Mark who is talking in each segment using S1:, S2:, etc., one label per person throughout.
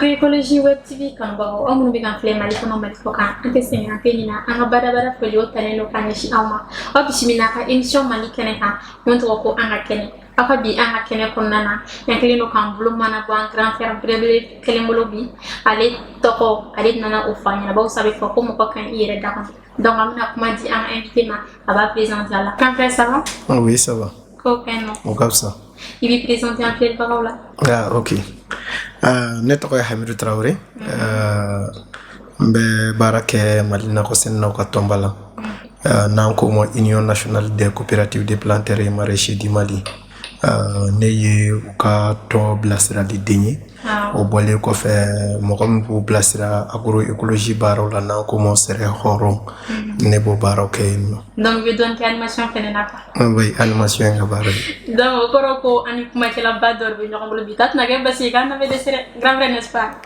S1: agroecologie web tv kanubagaw aw minnu bɛ k'an filɛ mali kɔnɔ mali kɔ kan an tɛ sɛgɛn an tɛ ɲinɛ an ka badabada foli o talen don ka ɲɛsin aw ma aw bisimila an ka emission mali kɛnɛ kan min tɔgɔ ko an ka kɛnɛ aw ka bi an ka kɛnɛ kɔnɔna na an kɛlen don k'an bolo mana bɔ an grand frère belebele kelen bolo bi ale tɔgɔ ale nana o fɔ an ɲɛna bawo sa a bɛ fɔ ko mɔgɔ ka ɲi i yɛrɛ da kɔnɔ donc an bɛna kuma di an ka invité ma a b'a présenter aw la grand frère ça va ah oui ça
S2: va ko fɛn nɔ o
S1: ka fisa
S2: i b'i présenter
S1: an filɛbagaw la ah ok
S2: uh, ne tɔgɔ ye hamidu tarawele uh, N bɛ baara kɛ mali nakɔsɛnɛlaw ka tɔnba la n'an k'o ma union nationale des coopératives de planteurs et maraîchers du Mali ne ye u ka tɔn bilasiraliden ye o bɔlen kɔfɛ mɔgɔ min b'u bilasira agroecologie baaraw la n'an k'o ma sɛnɛ hɔrɔn ne b'o baaraw kɛ yen nɔ donc i bɛ dɔɔnin kɛ
S1: animation fana na quoi oui animation ye n ka
S2: baara ye donc o kɔrɔ ko
S1: an ni kumakɛlaba dɔ de bɛ ɲɔgɔn bolo bi ta tɛna kɛ basi ye k'an na bɛ dɛsɛ dɛ grand frère n'est-ce pas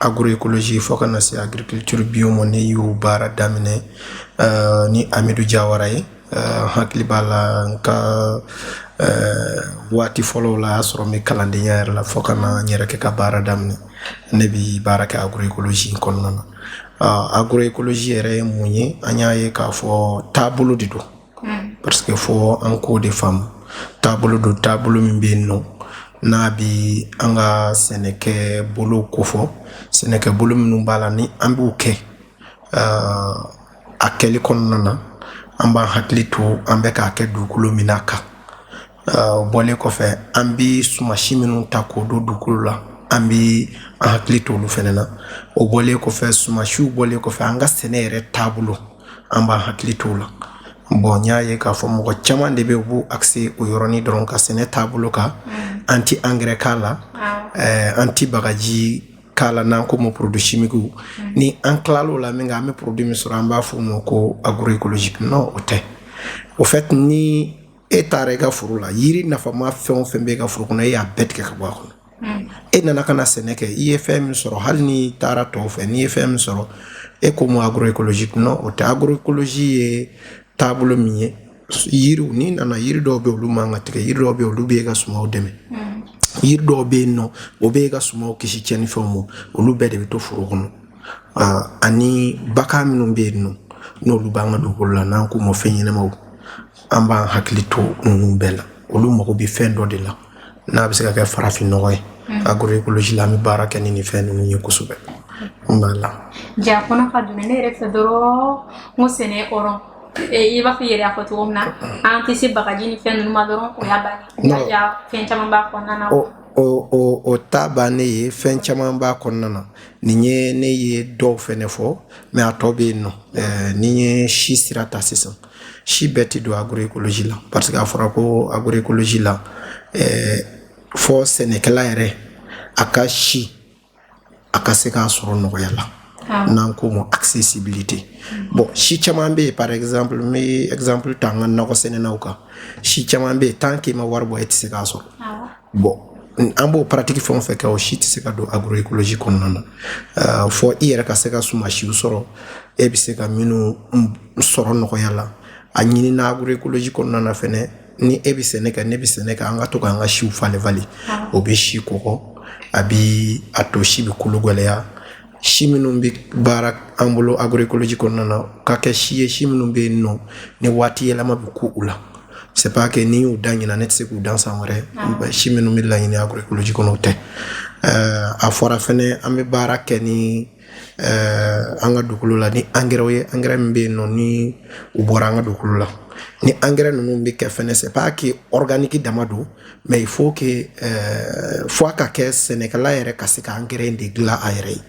S2: agroecologie fo ka na se agriculture bio ma ne y'o baara daminɛ uh, ni amidu jawara ye uh, hakili b'a la n ka uh, waati fɔlɔw la y'a sɔrɔ n bɛ kalandenya yɛrɛ la fo ka na n yɛrɛ kɛ ka baara daminɛ ne bi baara kɛ agroecologie kɔnɔna na uh, agroecologie yɛrɛ ye mun ye an y'a ye k'a fɔ taabolo de don parce que fo an k'o de faamu taabolo don taabolo min bɛ yen nɔ n'a bɛ an ka sɛnɛkɛ bolo kofɔ sɛnɛkɛ bolo minnu b'a la ni an b'u kɛ a kɛli kɔnɔna na an b'an hakili to an bɛ k'a kɛ dugukolo min na kan bɔlen kɔfɛ an bɛ sumasi minnu ta k'o don dugukolo la an bɛ an hakili to olu fana na o bɔlen kɔfɛ sumasiw bɔlen kɔfɛ an ka sɛnɛ yɛrɛ taabolo an b'an hakili to o la bon n y'a ye k'a fɔ mɔgɔ caman de bɛ u b'u axer o yɔrɔnin dɔrɔn kan sɛnɛ taabolo kan mm. an tɛ angɛrɛ k'a la eh, an tɛ bagaji k'a la n'an k'o ma produit chimique mm. ni an tilal'o la minkɛ an bɛ produit min sɔrɔ an b'a fɔ o ma ko agroecologique non o tɛ au fait ni e taara i ka foro la yiri nafama fɛn o fɛn bɛ i ka foro kɔnɔ e y'a bɛɛ tigɛ ka bɔ a kɔnɔ hmm. e nana ka na sɛnɛ kɛ i ye fɛn min sɔrɔ hali n'i taara tɔw fɛ n'i ye fɛn min sɔrɔ e k'o ma agroecologie non o tɛ agroecologie ye taabolo min ye yiriw n'i nana yiri dɔw bɛ olu man ka tigɛ yiri dɔw bɛ olu bɛ e ka sumaw dɛmɛ hmm. yiri dɔw bɛ yen nɔ o bɛ e ka sumaw kisi tiɲɛnifɛnw ma olu bɛɛ de bɛ to foro kɔnɔ ani bagan minnu bɛ yen nɔ n'olu b'an ka dugukolo la n'an k'u ma fɛn ɲɛnamaw an b'an hakili to ninnu bɛɛ la olu mago bɛ fɛn dɔ de la n'a bɛ se ka kɛ farafin nɔgɔ ye mm. agroecologie la an bɛ baara kɛ ni nin fɛn ninnu ye kosɛbɛ voilà ja kɔnɔ
S1: ka dun ne yɛrɛ fɛ dɔrɔn n ko sɛnɛ hɔrɔn i b'a fɔ i yɛrɛ y'a fɔ cogo min na an tɛ se bagaji ni fɛn ninnu ma dɔrɔn o t'a bannen ye fɛn caman b'a kɔnɔna na
S2: o t'a bannen ye fɛn caman b'a kɔnɔna na nin ye ne ye dɔw fɛnɛ fɔ mais a tɔ bɛ yen nɔ ni n ye si sira ta sisan si bɛɛ tɛ don agroecologie la parce que a fɔra ko agroecologie la ɛɛ eh, fɔ sɛnɛkɛla yɛrɛ a ka si a ka se k'a sɔrɔ nɔgɔya la ah. n'an k'o ma accessibilité mm. bon si caman bɛ yen par exemple n bɛ exemple ta an ka nakɔ sɛnɛnaw kan si caman bɛ yen tant que i ma wari bɔ e tɛ se k'a sɔrɔ ah. bon an b'o pratique fɛn o fɛn kɛ o si tɛ se ka don agroecologie kɔnɔna na euh, fɔ i yɛrɛ ka se ka sumasiw sɔrɔ e bɛ se ka minnu sɔrɔ nɔgɔya la a ɲinina agroecologie kɔnɔna na fɛnɛ ni e bɛ sɛnɛ kɛ ne bɛ sɛnɛ kɛ an ka to k'an ka siw falen falen o bɛ si kɔgɔ a bi a to si bɛ kolo gɛlɛya si minnu bɛ baara an bolo agroecologie kɔnɔna na u ka kɛ si ye si minnu bɛ yen nɔ ni waati yɛlɛma bɛ ko u la c'est pas que ni n y'u dan ɲinan ne tɛ se k'u dan san wɛrɛ ah. si minnu bɛ laɲini agroecologie kɔnɔ o tɛ euh, a fɔra fɛnɛ an bɛ baara kɛ ni euh, an ka dugukolo la ni angɛrɛw ye angɛrɛ min bɛ yen nɔ ni u bɔra an ka dugukolo la ni angɛrɛ ninnu bɛ kɛ fɛnɛ c'est pas que organique dama don mais il faut que euh, fo a ka kɛ sɛnɛkɛla yɛrɛ ka se ka angɛrɛ de dilan a yɛrɛ ye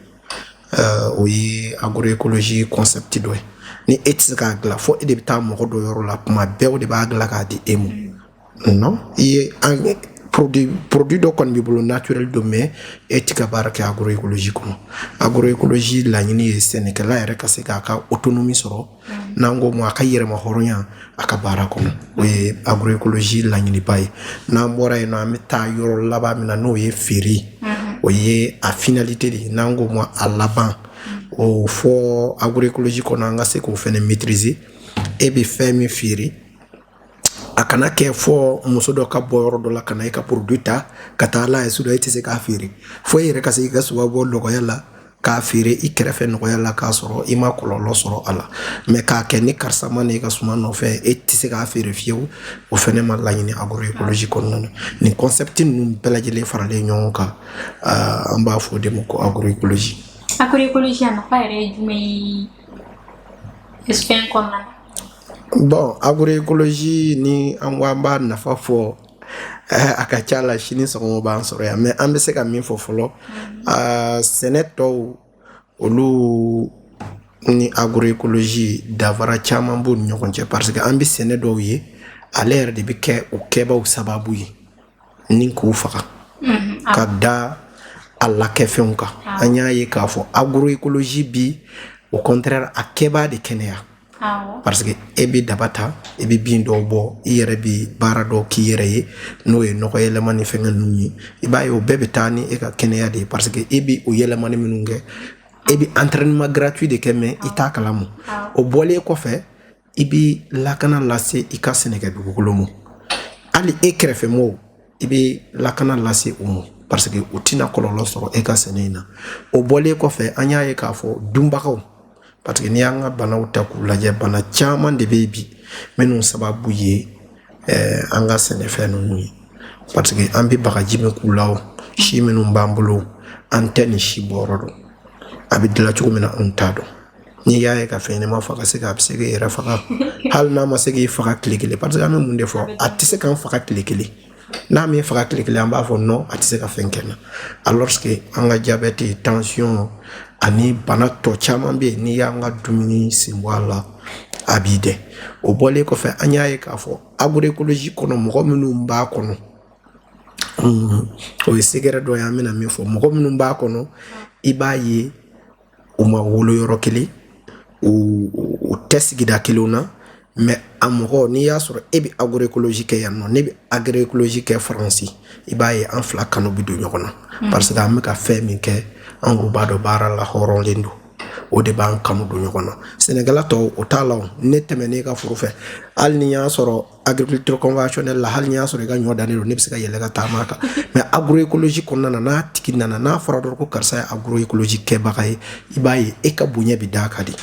S2: euh, o ye agroecologie concept dɔ ye ni e tɛ se k'a dilan fo e de bɛ taa mɔgɔ dɔ yɔrɔ la kuma bɛɛ o de b'a dilan k'a di e ma non i ye produit dɔ kɔni b'i bolo naturel don mais e ti ka baara kɛ agroecologie kɔnɔ agroecologie laɲini ye sɛnɛkɛla yɛrɛ ka se k'a ka autonomie sɔrɔ n'an k'o ma a ka yɛrɛma hɔrɔnya a ka baara kɔnɔ o ye agroecologie laɲiniba ye n'an bɔra yen nɔ an bɛ taa yɔrɔ laban min na n'o ye feere o ye a finalité de ye n'an k'o ma a laban o fɔ agroecologie kɔnɔ an ka se k'o fɛnɛ maîtriser e bɛ fɛn min feere a kana kɛ fɔ muso dɔ ka bɔ yɔrɔ dɔ la ka na i ka produit ta ka taa n'a ye sugu la i tɛ se k'a feere fo e yɛrɛ ka se i ka suma bɔ nɔgɔya la k'a feere i kɛrɛfɛ nɔgɔya la k'a sɔrɔ i ma kɔlɔlɔ sɔrɔ a la mais k'a kɛ ni karisa ma na i ka suma nɔfɛ e tɛ se k'a feere fiyewu o fɛnɛ ma laɲini agroecologie kɔnɔna na nin concept ninnu bɛɛ lajɛlen faralen ɲɔgɔn kan an b'a fɔ o de ma ko agroecologie agroecologie a
S1: nafa yɛrɛ ye jumɛn ye fɛn kɔnɔna na
S2: Bon agroécologie ni an ko an b'a nafa fɔ a ka ca la sini sɔgɔma b'an sɔrɔ yan mais an bɛ se ka min fɔ fɔlɔ sɛnɛ tɔw olu ni agroécologie danfara caman b'u ni ɲɔgɔn cɛ parce que an bɛ sɛnɛ dɔw ye ale yɛrɛ de bɛ kɛ o kɛbaaw sababu ye ni k'u faga ka da a lakɛfɛnw kan an y'a ye k'a fɔ agroécologie bi au contraire a kɛbaa de kɛnɛya parce que e bɛ daba ta e bɛ bin dɔw bɔ i yɛrɛ bɛ baara dɔw k'i yɛrɛ ye n'o ye nɔgɔ yɛlɛma ni fɛngɛ ninnu ye i b'a ye o bɛɛ bɛ taa ni e ka kɛnɛya de ye parce que e bɛ o yɛlɛmani minnu kɛ e bɛ entraînement gratuit de kɛ mais i t'a kalama o bɔlen kɔfɛ i bɛ lakana lase i ka sɛnɛkɛ dugukolo ma hali e kɛrɛfɛ mɔgɔw i bɛ lakana lase u ma parce que u tɛna kɔlɔlɔ sɔrɔ e ka sɛnɛ in na o bɔlen kɔfɛ an y'a ye k'a fɔ dunbagaw parce que n'i y'an ka banaw ta k'u lajɛ bana caman de bɛ yen bi minnu sababu ye eh, an ka sɛnɛfɛn ninnu ye parce que an bɛ bagaji min k'u la o si minnu b'an bolo an tɛ nin si bɔyɔrɔ dɔn a bɛ dilan cogo min na anw t'a dɔn N'i y'a ye ka fɛn ɲɛnama faga se a bɛ se k'i yɛrɛ faga hali n'a ma se k'i faga tile kelen parce que an bɛ mun de fɔ a tɛ se k'an faga tile kelen n'a m'an faga tile kelen an b'a fɔ non a tɛ se ka fɛn kɛ n na alors que an ka diabète tension ani bana tɔ caman bɛ yen n'i y'an ka dumuni sen bɔ a la a b'i dɛ o bɔlen kɔfɛ an y'a ye k'a fɔ agroécologie kɔnɔ mɔgɔ minnu b'a kɔnɔ o ye secret dɔ ye an bɛna min fɔ mɔgɔ minnu b'a kɔnɔ i b'a ye u ma wolo yɔrɔ kelen u tɛ sigida kelenw na mais a mɔgɔ n'i y'a sɔrɔ e bɛ agroécologie kɛ yan nɔ ne bɛ agroécologie kɛ faransi i b'a ye an fila kanu bɛ don ɲɔgɔn na hmm. parce que an bɛ ka fɛn min kɛ an ko b'a dɔn baara la hɔrɔnlen don o de b'an kanu don ɲɔgɔn na sɛnɛkɛla tɔw o t'a la ne tɛmɛnen i ka foro fɛ hali n'i y'a sɔrɔ agriculture conventionnelle la hali n'i y'a sɔrɔ i ka ɲɔ dannen don ne bɛ se ka yɛlɛ ka taama a kan mais agroécologie kɔnɔna na n'a tigi nana n'a fɔra dɔrɔn ko karisa ye agroécologie kɛbaga ye i b'a ye e ka bonya bɛ d'a kan de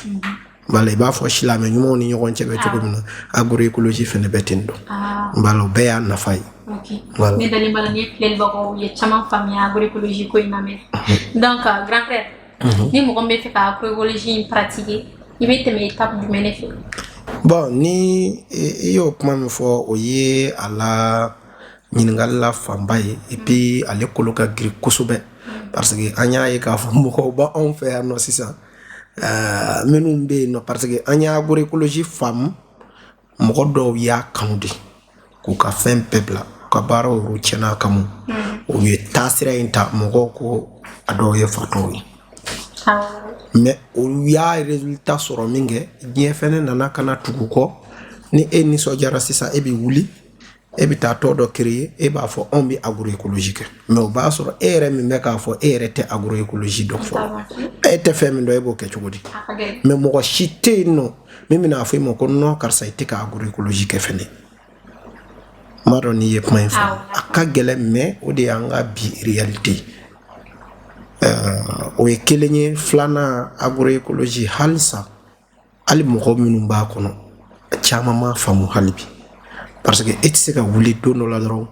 S2: bala i b'a fɔ silamɛ ɲumanw ni ɲɔgɔn cɛ bɛ cogo min na ah. agroécologie fɛnɛ bɛ ten don ah. bala o bɛɛ y'a nafa ye voilà. ne dalen b'a la nin filɛlibagaw ye
S1: caman faamuya agroécologie ko in na mais donc grand frère Mhm. Ni mɔgɔ min b'a fɛ ka agroécologie in pratiquer i bɛ tɛmɛ étape jumɛn de fɛ? Bon ni
S2: i y'o kuma min fɔ o ye a la ɲininkali la fanba ye et puis ale kolo ka girin kosɛbɛ parce que an y'a ye k'a fɔ mɔgɔw b'anw fɛ yan nɔ sisan euh, minnu bɛ yen nɔ parce que an ye agroécologie faamu mɔgɔ dɔw y'a kanu de k'u ka fɛn bɛɛ bila u ka baaraw yɛrɛ tiɲɛna a kama u ye taasira in ta mɔgɔw ko a dɔw ye fatɔw ye mais olu y'a résultat sɔrɔ min kɛ diɲɛ fɛnɛ nana ka na tugu kɔ ni e nisɔndiyara sisan e bɛ wuli e bɛ taa tɔn dɔ créer e b'a fɔ anw bɛ agroécologie kɛ mais o b'a sɔrɔ e yɛrɛ min bɛ k'a fɔ e yɛrɛ tɛ agroécologie dɔn fɔlɔ e tɛ fɛn min dɔn e b'o kɛ cogo di mais mɔgɔ si tɛ yen nɔ min bɛn'a fɔ i ma ko non karisa i tɛ ka agroécologie kɛ fɛnɛ n b'a dɔn n'i ye kuma in fɔ a ka gɛlɛn mais o de y'an ka bi réalité o ye kelen ye filanan agroécologie halisa hali mɔgɔ minnu b'a kɔnɔ caman m'a faamu hali bi parce que e tɛ se ka wuli don dɔ la dɔrɔn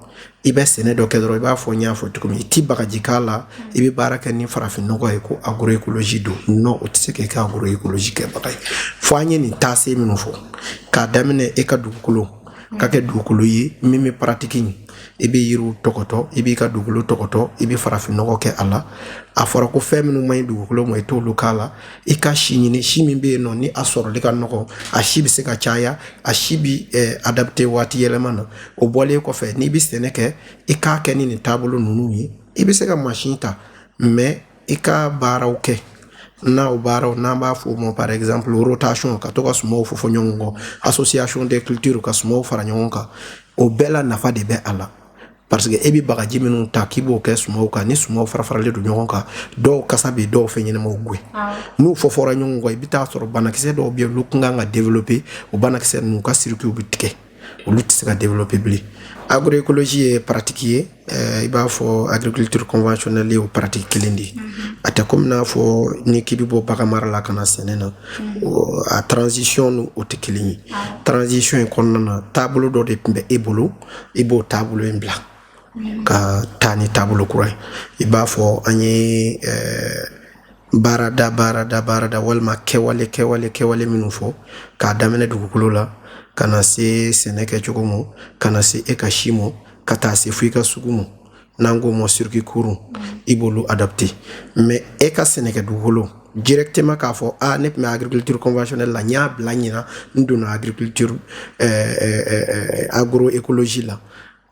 S2: i bɛ sɛnɛ dɔ kɛ dɔrɔn i b'a fɔ n y'a fɔ cogo min i ti bagaji k'a la i bɛ baara kɛ ni farafinnɔgɔ ye ko agroécologie don non o tɛ se k'i kɛ agroécologie kɛbaga ye fo an ye nin taasira minnu fɔ k'a daminɛ e ka dugukolo ka kɛ dugukolo ye min bɛ paratiki i bɛ yiriw tɔgɔtɔ i b'i ka dugukolo tɔgɔtɔ i bɛ farafinnɔgɔ kɛ a la a fɔra ko fɛn minnu man ɲi dugukolo ma i t'olu k'a la i ka si ɲini si min bɛ yen nɔ ni a sɔrɔli ka nɔgɔ a si bɛ se ka caya a si bɛ eh, adapter waati yɛlɛma na o bɔlen kɔfɛ n'i bɛ sɛnɛ kɛ i k'a kɛ ni nin taabolo ninnu ye i bɛ se ka mansin ta mais i ka baaraw kɛ n'aw baaraw n'an b'a fɔ o ma par exemple rotation ka to ka sumaw fɔfɔ ɲɔgɔn kɔ association des cultures ka sumaw fara ɲɔgɔn kan o bɛɛ la nafa de bɛ a la parce que e bɛ bagaji minnu ta k'i b'o kɛ sumaw kan ni sumaw farafaralen don ɲɔgɔn kan dɔw kasa bɛ dɔw fɛnɲɛnamaw gwɛn n'u fɔfɔra ɲɔgɔn kɔ i bɛ t'a sɔrɔ banakisɛ dɔw bɛ yen olu tun kan ka développer o banakisɛ ninnu ka circuit bɛ tigɛ olu tɛ se ka développer bilen agroécologie ye paratiki ye eh, i b'a fɔ agriculture conventionnelle ye o paratiki kelen de ye mm-hmm. a tɛ komi n'a fɔ ni k'i bɛ bɔ baganmara la ka na sɛnɛ na mm-hmm. a transition ni o tɛ kelen ye ah. transition in kɔnɔna na taabolo dɔ de tun bɛ e bolo i b'o taabolo in bila mm-hmm. ka taa ni taabolo kura ye i b'a fɔ an ye eh, baarada baarada baarada walima kɛwale kɛwale kɛwale minnu fɔ k'a daminɛ dugukolo la ka na se sɛnɛ kɛcogo ma ka na se e ka si ma ka taa se fo i ka sugu ma n'an k'o ma circuit court i b'olu adapter mais e ka sɛnɛkɛ dugukolo directement k'a fɔ a ah, ne tun bɛ agriculture conventionnelle la n y'a bila ɲinan n donna agriculture eh, eh, eh, agroécologie la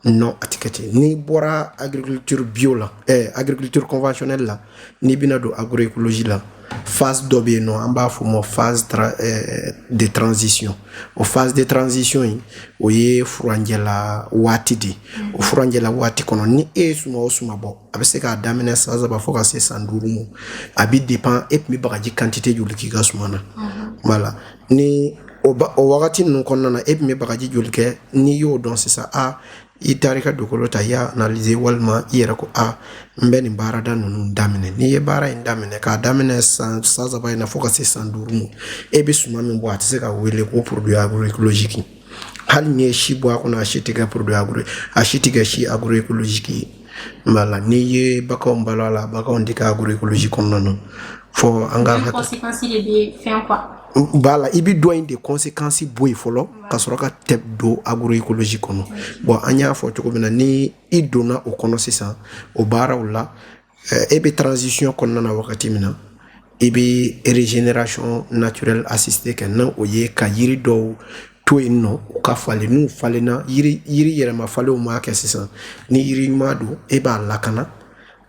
S2: non a tɛ kɛ ten n'i bɔra agriculture bio la eh, agriculture conventionnelle la n'i bɛna don agroécologie la phase dɔ bɛ yen nɔ an b'a fɔ o ma phase tra eh, de transition o phase de transition in o ye furanjɛla waati de ye o furanjɛla waati kɔnɔ ni e ye suma o suma bɔ a bɛ se k'a daminɛ san saba fo ka se san duuru ma a bɛ dépend e tun bɛ bagaji quantité joli k'i ka suma na voilà ni o wagati ninnu kɔnɔna na e tun bɛ bagaji joli kɛ n'i y'o dɔn sisan a i taara ka dugukolo ta i y'a analyser walima i yɛrɛ ko a n bɛ nin baarada ninnu daminɛ n'i ye baara in daminɛ k'a daminɛ san saba in na fo ka se san duuru ma e bɛ suma min bɔ a tɛ se ka wele ko produit agroecologique hali n'i ye si bɔ a kɔnɔ a si tɛ kɛ produit agro a si tɛ kɛ si agroecologique ye Wala n'i ye baganw balo a la baganw tɛ kɛ agroecologie kɔnɔna na fo an ka
S1: b'a la i bɛ dɔ
S2: in de consequence bɔ yen fɔlɔ ka sɔrɔ ka tɛ don agroecologie kɔnɔ bɔn an y'a fɔ cogo min na ni i donna o kɔnɔ sisan o baaraw la e bɛ transition kɔnɔna na wagati min na i bɛ régénération naturelle assistée kɛ n'o ye ka yiri dɔw to yen nɔ u ka falen n'u falenna yiri yɛrɛma falenw m'a kɛ sisan ni yiri ɲuman don e b'a lakana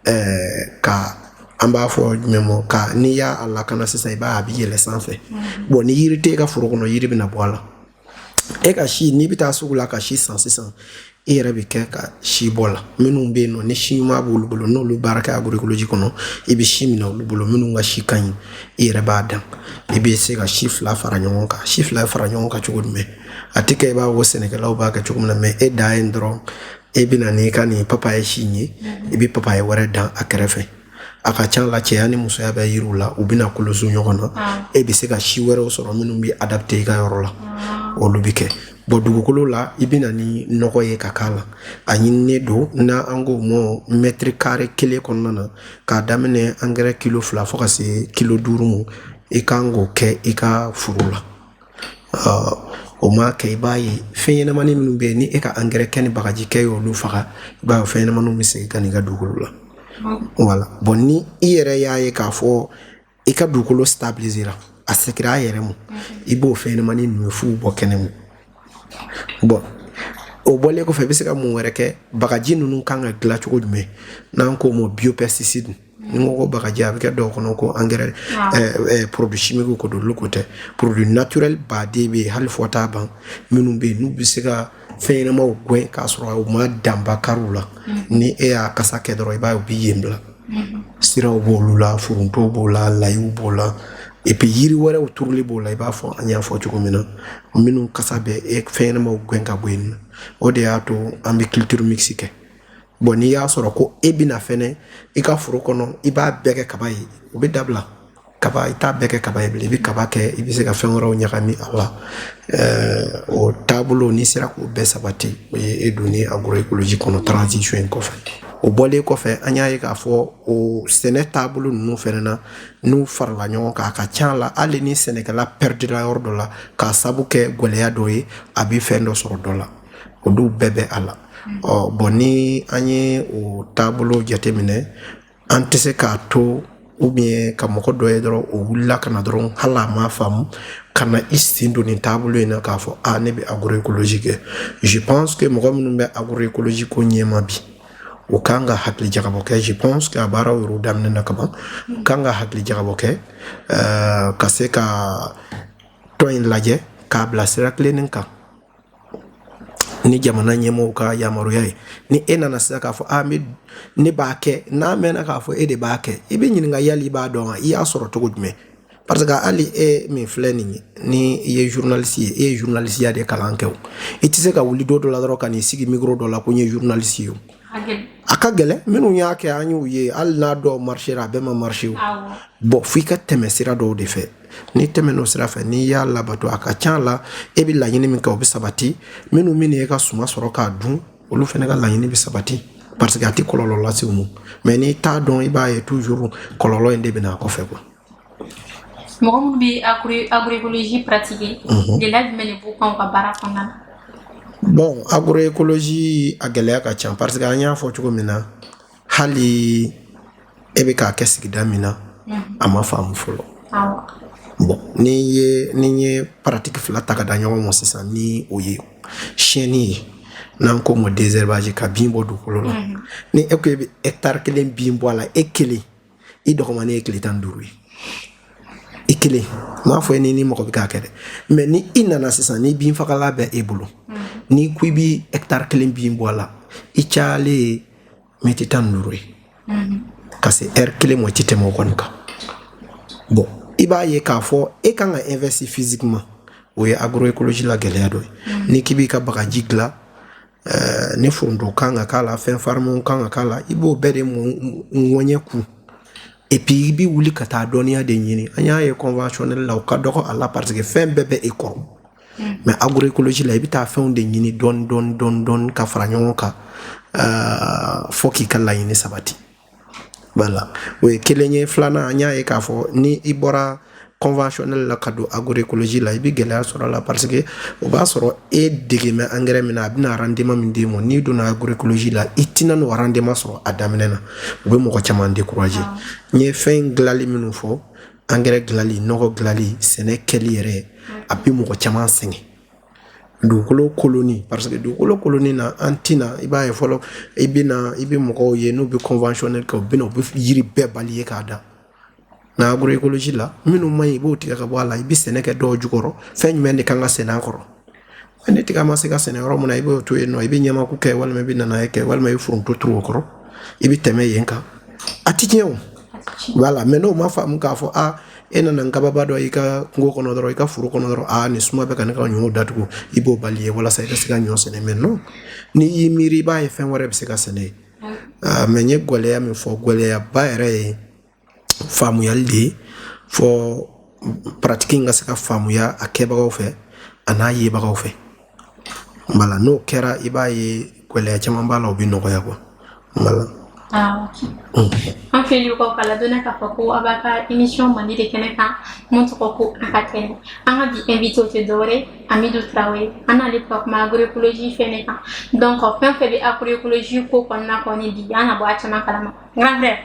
S2: ɛɛ eh, ka an b'a fɔ jumɛn ma ka n'i y'a lakana sisan i b'a a bɛ yɛlɛ sanfɛ bɔn ni yiri tɛ e ka foro kɔnɔ yiri bɛna bɔ a la e ka si n'i bɛ taa sugu la ka si san sisan i yɛrɛ bɛ kɛ ka sibɔla minnu bɛ yen nɔ ni si ɲuman b'olu bolo n'olu baara kɛ agroecologie kɔnɔ i bɛ si minɛ olu bolo minnu ka si ka ɲi i yɛrɛ b'a dan i bɛ se ka si fila fara ɲɔgɔn kan si fila fara ɲɔgɔn kan cogo jumɛn a tɛ kɛ i b'a fɔ sɛnɛkɛlaw b'a kɛ cogo min na mɛ e dan ye dɔrɔn e bɛ na n'i ka nin papaye si ye i bɛ papaye wɛrɛ dan a kɛrɛfɛ a ka ca la cɛya ni musoya bɛ yiriw la u bɛna koloso ɲɔgɔn na ah. e bɛ se ka si wɛrɛw sɔrɔ minnu bɛ adapte i ka yɔrɔ la ah. olu bɛ kɛ bɔn dugukolo la i bɛ na ni nɔgɔ ye ka k'a la a ɲininen don n'an k'o ma mɛtiri kare kelen kɔnɔna na k'a daminɛ angɛrɛ kilo fila fo ka se kilo duuru ma i kan k'o kɛ i ka foro la o ma kɛ i b'a ye fɛn ɲɛnamani minnu bɛ yen ni e ka angɛrɛ kɛ ni bagaji kɛ y'olu faga i b'a ye fɛn ɲɛnamaniw bɛ segin ka n'i ka dugukolo la wala bɔn ni i yɛrɛ y'a ye k'a fɔ i ka dugukolo stabilisera a segira a yɛrɛ mu i b'o fɛn ɲɛnamani ninnu f'u bɔ kɛnɛ mu bɔn o bɔlen kɔfɛ i bɛ se ka mun wɛrɛ kɛ bagaji ninnu kan ka dilan cogo jumɛn n'an k'o ma biopesticide ni o ko bagaji a bɛ kɛ dɔw kɔnɔ ko angɛrɛ porodu simikiw ko don olu ko tɛ porodu naturɛli baden bɛ yen hali fɔ t'a ban minnu bɛ yen n'u bɛ se ka fɛn ɲɛnamaw gɛn k'a sɔrɔ u ma dankari u la ni e y'a kasa kɛ dɔrɔn i b'a ye u bɛ yen bila siraw b'olu la forontow b'o la layiw b'o la epi yiri wɛrɛw turuli b'o la i b'a fɔ an y'a fɔ cogo min na minnu kasa bɛ e fɛn ɲɛnamaw gɛn ka bɔ yen nɔ o de y'a to an bɛ culture mixte kɛ bon n'i y'a sɔrɔ ko e bɛna fɛnɛ i ka foro kɔnɔ i b'a bɛɛ kɛ kaba ye o bɛ dabila kaba i t'a bɛɛ kɛ kaba ye bilen i bɛ kaba kɛ i bɛ se ka fɛn wɛrɛw ɲagami a la o taabolo n'i sera k'o bɛɛ sabati o ye e donni agroécologie kɔnɔ transition in kɔfɛ o bɔlen kɔfɛ an y'a ye k'a fɔ o sɛnɛ taabolo ninnu fɛnɛ na n'u farala ɲɔgɔn kan a ka ca la hali ni sɛnɛkɛla perdira yɔrɔ dɔ la k'a sabu kɛ gwɛlɛya dɔ ye a bɛ fɛn dɔ sɔrɔ dɔ la olu bɛɛ bɛ a la ɔ bon ni an ye o taabolo jateminɛ an tɛ se k'a to ou bien ka mɔgɔ dɔ ye dɔrɔn o wulila ka na dɔrɔn hali a m'a faamu ka na i sen don nin taabolo in na k'a fɔ a ne bɛ agroécologie kɛ je pense que mɔgɔ minnu bɛ agroécologie ko ɲɛma bi o kan ka hakili jagabɔ kɛ je pense que a baaraw yɛrɛ daminɛ na kaban o kan ka hakili jagabɔ kɛ euh, ka se ka tɔn in lajɛ k'a bila sira tilennen kan ni jamana ɲɛmɔgɔw ka yamaruya ye ni e nana sisan k'a fɔ a bɛ ne b'a kɛ n'a mɛnna k'a fɔ e de b'a kɛ i bɛ ɲininka yali i b'a dɔn wa i y'a sɔrɔ cogo jumɛn parce que hali e min filɛ nin ye ni i ye journaliste ye e ye journalistiya de kalan kɛ o i tɛ se ka wuli don dɔ la dɔrɔn ka n'i sigi micro dɔ la ko n ye journaliste ye o a ka gɛlɛn minnu y'a kɛ an y'u ye hali n'a dɔw marchera a bɛɛ ma marcher o bon f'i ka tɛmɛ sira dɔw de fɛ n'i tɛmɛn'o sira fɛ n'i y'a labato a ka ca la e bɛ laɲini min kɛ o bɛ sabati minnu man'e ka suma sɔrɔ k'a dun olu fana ka laɲini bɛ sabati parce que a tɛ kɔlɔlɔ lase u ma mais n'i t'a dɔn i b'a ye toujours kɔlɔlɔ in de bɛ na a kɔfɛ
S1: quoi. mɔgɔ minnu bɛ agroécologie pratiquer mhm. gɛlɛya jumɛn de b'u kan u ka baara kɔnɔna
S2: na. bon agroécologie a gɛlɛya ka ca parce que an y'a fɔ cogo min na. hali e bɛ k'a kɛ sigida min na a ma faamu fɔlɔ bon n'i ye n'i ye pratique fila ta ka da ɲɔgɔn ma sisan ni o ye siyɛnni ye n'an k'o ma désherbage ka bin bɔ dugukolo la ni e ko e bɛ hectare kelen bin bɔ a la e kelen i dɔgɔmanin ye tile tan ni duuru ye i kelen m'a fɔ ye ni ni mɔgɔ bɛ k'a kɛ dɛ mais ni i nana sisan ni bin fagala bɛ e bolo mm-hmm. n'i ko i bi hectare kelen bin bɔ a la i cayalen ye miniti tan ni duuru ye mm-hmm. ka se heure kelen mɔ i ti tɛmɛ o kɔni kan bon i b'a ye k'a fɔ e kan ka investir physiquement o ye agroécologie la gɛlɛya dɔ ye mm-hmm. n'i k'i b'i ka bagaji dilan ɛɛ ni foronto kan ka k'a la fɛn farimanw kan ka k'a la i b'o bɛɛ de ŋɔɲɛ kun et puis i bɛ wuli ka taa dɔnniya de ɲini an y'a ye conventionnel la o ka dɔgɔ a la parce que fɛn bɛɛ bɛ e kɔrɔ mais agroécologie la i bɛ taa fɛnw de ɲini dɔɔni dɔɔni dɔɔni dɔɔni ka fara ɲɔgɔn kan ɛɛ fo k'i ka laɲini sabati Wala o ye kelen ye filanan an y'a ye k'a fɔ ni i bɔra conventionnel la ka don agroecologie la i bɛ gɛlɛya sɔrɔ a la parce que o b'a sɔrɔ e dege bɛ angɛrɛ min na a bɛna rendement min d'e ma n'i donna agroecologie la i tɛna n'o rendement sɔrɔ a daminɛ na o bɛ mɔgɔ caman décourager n ye fɛn dilanli minnu fɔ angɛrɛ dilanli nɔgɔ dilanli sɛnɛ kɛli yɛrɛ a bɛ mɔgɔ caman sɛgɛn dugukolo kolonni paseke dugukolo kolonni na an tɛna i b'a ye fɔlɔ i bɛ na i bɛ mɔgɔw ye n'u bɛ conventionnel kɛ u bɛ na u bɛ yiri bɛɛ bali ye k'a da nka agroecologie la minnu man ɲi i b'o tigɛ ka bɔ a la i bɛ sɛnɛ kɛ dɔw jukɔrɔ fɛn jumɛn de kan ka sɛnɛ a kɔrɔ ni tiga ma se ka sɛnɛ yɔrɔ min na i b'o to yen nɔ i bɛ ɲamaku kɛ walima i bɛ nanaye kɛ walima i bɛ foronto turu o kɔrɔ i bɛ tɛmɛ yen kan a tɛ tiɲɛ o wala mɛ n'o ma faamu k'a fɔ aa e nana nkababa dɔ i ka kungo kɔnɔ dɔrɔn i ka foro kɔnɔ dɔrɔn aa ni suma bɛ ka ne ka ɲɔ datugu i b'o bali ye walasa i ka se ka ɲɔ sɛnɛ mɛ nɔ n'i y'i miiri i b'a ye fɛn wɛrɛ bɛ se ka sɛnɛ mɛ n ye gwɛlɛya min fɔ gwɛlɛyaba yɛrɛ ye faamuyali de ye fɔ paratiki in ka se ka faamuya a kɛbagaw fɛ an'a yebagaw fɛ Wala n'o kɛra i b'a ye gɛlɛya caman b'a la o bɛ nɔgɔya
S1: kuwa an filɛlibaw ka ladɔnniya k'a fɔ ko aw b'an ka imisɔn mandi de kɛnɛ kan min tɔgɔ ko an ka kɛnɛ an ka bi invité o tɛ dɔwɛrɛ ye amidu tarawele an n'ale bɛ ka kuma agroecologie fɛnɛ kan donc fɛn fɛn bɛ agroecologie ko kɔnɔna kɔni bi an na bɔ a caman kalama grand frère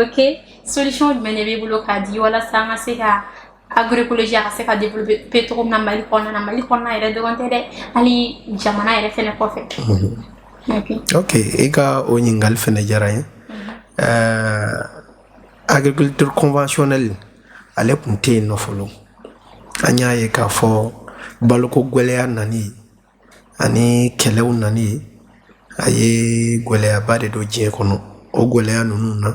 S1: ok solution jumɛn de b'i bolo k'a di walasa an ka se ka agroecologie a ka se ka développer cogo min na mali kɔnɔna na mali kɔnɔna yɛrɛ dɔrɔn tɛ dɛ hali jamana yɛrɛ fɛnɛ kɔfɛ ok
S2: i ka o ɲininkali fɛnɛ diyara n ye agriculture conventionnelle ale tun tɛ yen nɔ fɔlɔ an y'a ye k'a fɔ baloko gwɛlɛya nani ani kɛlɛw nani a ye gɛlɛyaba de don diɲɛ kɔnɔ o gɛlɛya ninnu na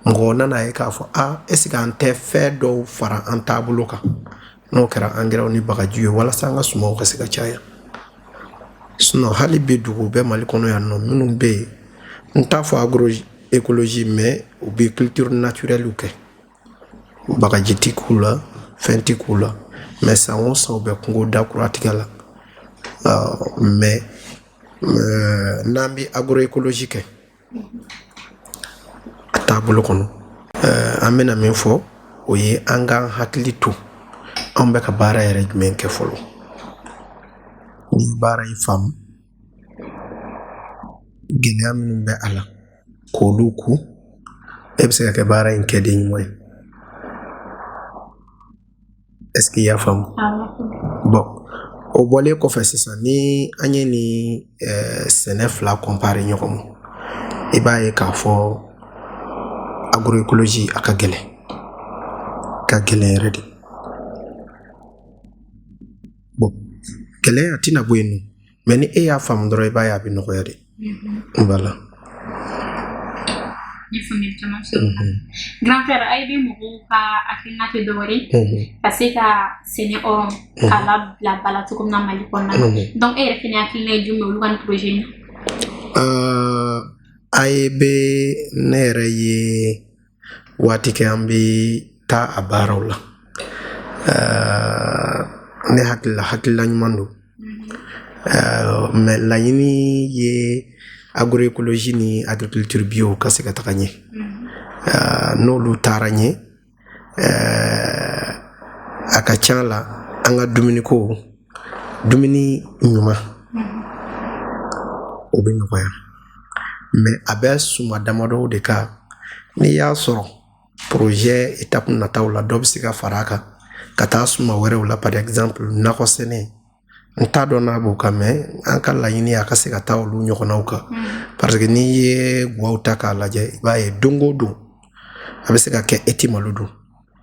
S2: mɔgɔ nana a ye k'a fɔ a eseke an tɛ fɛn dɔw fara an taabolo kan n'o kɛra angɛrɛw ni bagaji ye walasa an ka sumaw ka se ka caya sinɔn hali bi dugu bɛ mali kɔnɔ yan nɔ minnu bɛ yen n t'a fɔ agroecologie mɛ u bɛ culture naturelle kɛ bagaji ti k'u la fɛn ti k'u la mɛ san o san u bɛ kungo da kura tigɛ la mɛ n'an bɛ agroecologie kɛ a taabolo kɔnɔ an bɛna min fɔ o ye an k'an hakili to an bɛ ka baara yɛrɛ jumɛn kɛ fɔlɔ ni baara in faamu gɛlɛya minnu bɛ a la k'olu ku e bɛ se ka kɛ baara in kɛden ɲuman ye est-ce que i y'a faamu bon o bɔlen kɔfɛ sisan ni an ye nin eh, sɛnɛ fila kɔnpare ɲɔgɔn ma i b'a ye k'a fɔ agroecologie a ka gɛlɛn ka gɛlɛn yɛrɛ de bon gɛlɛya tɛna bɔ yen nɔ mais ni e y'a faamu dɔrɔn i b'a ye a bɛ nɔgɔya de voilà
S1: grand frère AEB mɔgɔw ka hakilina tɛ dɔwɛrɛ ka se ka sɛnɛ hɔrɔn k'a labila ba la cogo min na mali kɔnɔna na donc e yɛrɛ fɛnɛ hakilina ye jumɛn olu ka nin projet in na
S2: AEB ne yɛrɛ ye waati kɛ an bɛ taa a baaraw la ne hakilila hakilila ɲuman don mais laɲini ye agroecologie ni agriculture bio ka se ka taga ɲɛ n'olu taara ɲɛ a ka ca la an ka dumuniko dumuni ɲuman o bɛ nɔgɔya mais a bɛ suma damadɔw de kan n'i y'a sɔrɔ porozɛ etapu nataw la dɔ bɛ se ka fara a kan ka taa suma wɛrɛw la par exemple nakɔ sɛnɛ n t'a dɔn n'a b'o kan mais an ka laɲini a ka se ka taa olu ɲɔgɔnnaw kan mm. parce que n'i ye guwaw ta k'a lajɛ i b'a ye don o don a bɛ se ka kɛ e ti malo dun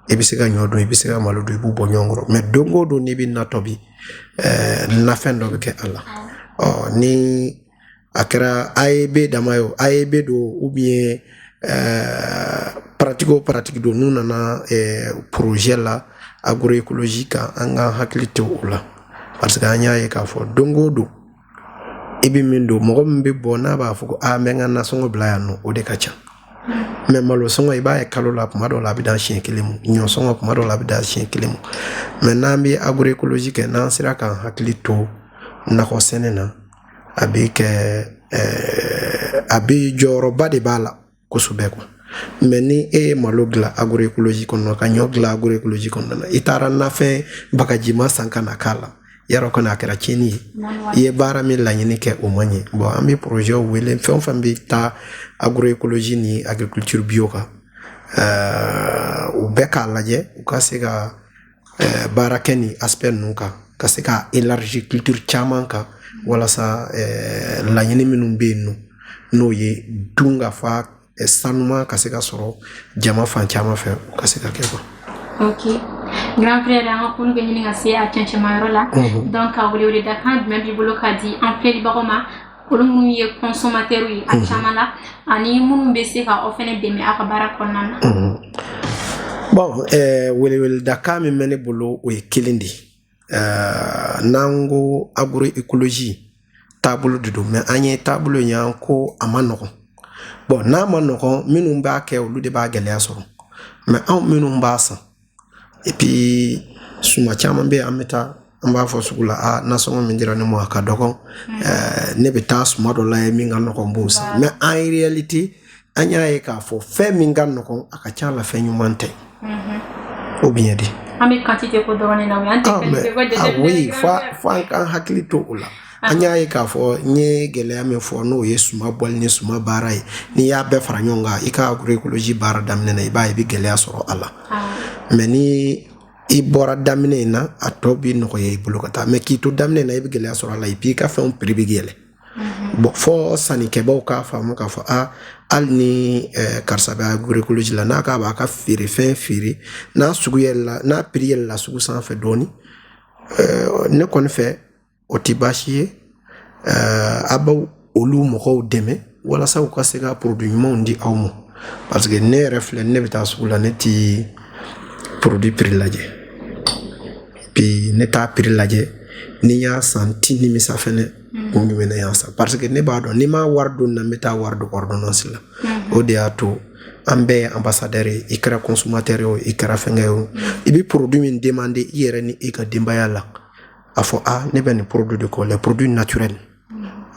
S2: i bɛ se ka ɲɔ dun i bɛ se ka malo dun i b'u bɔ ɲɔgɔn kɔrɔ mais don o don n'i bɛ na tobi eh, nafɛn dɔ bɛ kɛ a la ɔ ni a kɛra AEB dama ye o AEB don ou bien eh, paratiki o paratiki don n'u nana eh, porozɛ la agroekolozi kan an ka hakili to o la parce que an y'a ye k'a fɔ don o don i bɛ min dun mɔgɔ min bɛ bɔ n'a b'a fɔ ko aa n bɛ n ka nasɔngɔ bila yan nɔ o de ka ca mais malo sɔngɔ i b'a ye kalo la kuma dɔw la a bɛ dan siɲɛ kelen mu ɲɔ sɔngɔ kuma dɔw la a bɛ dan siɲɛ kelen mu mais n'an bɛ agroecologie kɛ n'an sera k'an hakili to nakɔ sɛnɛ na a bɛ kɛ ɛɛ a bɛ jɔyɔrɔba de b'a la kosɛbɛ quoi mais ni e ye malo dilan agroekoloji kɔnɔna ka ɲɔ dilan agroekoloji kɔnɔna na i taara nafɛn bagajima san ka na k'a la yarɔ kɔni a kɛra tiɲɛni ye i ye baara min laɲini kɛ o ma ɲɛ bon an bɛ porozɛw wele fɛn o fɛn bɛ taa agroekoloji ni agriculture bio kan ɛɛ u bɛɛ k'a lajɛ u ka se ka eh, baara kɛ ni aspect ninnu kan ka se ka élargir culture caman kan walasa eh, laɲini minnu bɛ yen nɔ n'o ye dun ka fa eh, sanuma ka se ka sɔrɔ jama fan caman fɛ u ka se ka kɛ quoi.
S1: Okay. Grand frère, an ka kulun bɛ ɲini ka se a cɛncɛnmayɔrɔ la. Mhm. Donc ka weleweleda kan jumɛn b'i bolo ka di an filɛlibagaw ma olu minnu ye consommateurs ye a mhm. caman na ani minnu bɛ se ka aw fɛnɛ dɛmɛ
S2: aw ka baara kɔnɔna na. Mhm. bon eh, weleweledakan min bɛ ne bolo o ye kelen de ye eh, n'an ko agroecologie taabolo de don mais an ye taabolo in y'an ko a man nɔgɔn bon n'a man nɔgɔn minnu b'a kɛ olu de b'a gɛlɛya sɔrɔ mais anw minnu b'a san et puis suma caman bɛ an bɛ taa an b'a fɔ sugu la a ah, nasɔngɔ min dira ne ma a ka dɔgɔn mm. eh, ne bɛ taa suma dɔ lajɛ min ka nɔgɔn b'o san mais en réalité an y'a ye k'a fɔ fɛn min ka nɔgɔn a ka ca la fɛn ɲuman tɛ mm-hmm. ou bien dɛ an bɛ quantité
S1: ko dɔrɔn de la o ye an tɛ ah, fɛn fɛn ko jateminɛ ah, oui fo an
S2: k'an hakili to o la an y'a ye k'a fɔ n ye gɛlɛya min fɔ n'o ye suma bɔli ni suma baara ye n'i y'a bɛɛ fara ɲɔgɔn kan i ka agroecologie baara daminɛ na i b'a ye i bɛ gɛlɛya sɔrɔ a la mais ni i bɔra daminɛ in na a tɔ bɛ nɔgɔya i bolo ka taa mais k'i to daminɛ na i bɛ gɛlɛya sɔrɔ a la et puis i ka fɛnw prix bɛ yɛlɛ bon fo sannikɛbaaw k'a faamu k'a fɔ a hali ni eh, karisa bɛ agroecologie la n'a k'a b'a ka feerefɛn feere n'a sugu yɛlɛla n'a prix yɛlɛla sugu sanfɛ dɔɔni eh, ne kɔni fɛ o tɛ baasi ye eh, a b'aw olu mɔgɔw dɛmɛ walasa u ka se ka produit ɲumanw di aw ma parce que ne yɛrɛ filɛ ne bɛ taa sugu la ne ti produit prix lajɛ bi ne t'a prix lajɛ ni n y'a san ti nimisa fɛnɛ mm. kun jumɛn ne y'a san parce que ne b'a dɔn ni n ma wari don na n bɛ taa wari don ordonnance la mm. o de y'a to an bɛɛ ye ambassadeur ye i kɛra consommateur ye o i kɛra fɛnkɛ ye o mm. i bɛ produit min demander i yɛrɛ ni i ka denbaya la a fɔ a ah, ne bɛ nin produit de kɔ les produits naturels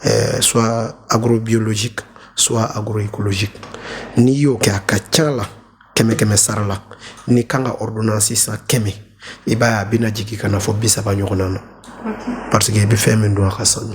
S2: euh, soit agrobiologique soit agroécologique n'i y'o kɛ a ka ca la kɛmɛ kɛmɛ sara la n'i kan ka ordonnance san kɛmɛ i b'a ye a bɛna jigin ka na fo bi saba ɲɔgɔnna na parce que i bɛ fɛn min dun a ka sanu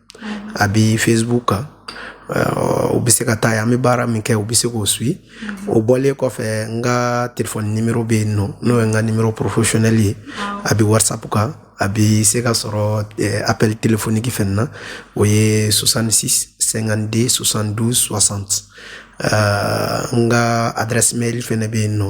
S2: a bɛ facebook kan u bɛ se ka taa yan an bɛ baara min kɛ u bɛ se k'o suit o bɔlen kɔfɛ n ka telefɔni nimero bɛ yen nɔ n'o ye n ka nimero professionnel ye a bɛ whatsapp kan a bɛ se ka sɔrɔ appel téléphonique fɛnɛ na o ye 66 52 72 60 n ka adresse mail fɛnɛ bɛ yen nɔ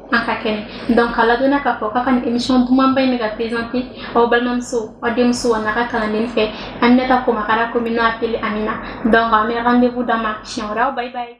S1: an ka kɛnɛ donc k'a ladɔnniya k'a fɔ k'a ka nin émission dumanba in bɛ ka présenter aw balimamuso aw denmuso an'a ka kalanden fɛ Aminata Komakara communément appelée Amina donc an bɛ rendez-vous d'a ma siɲɛ wɛrɛ aw bye bye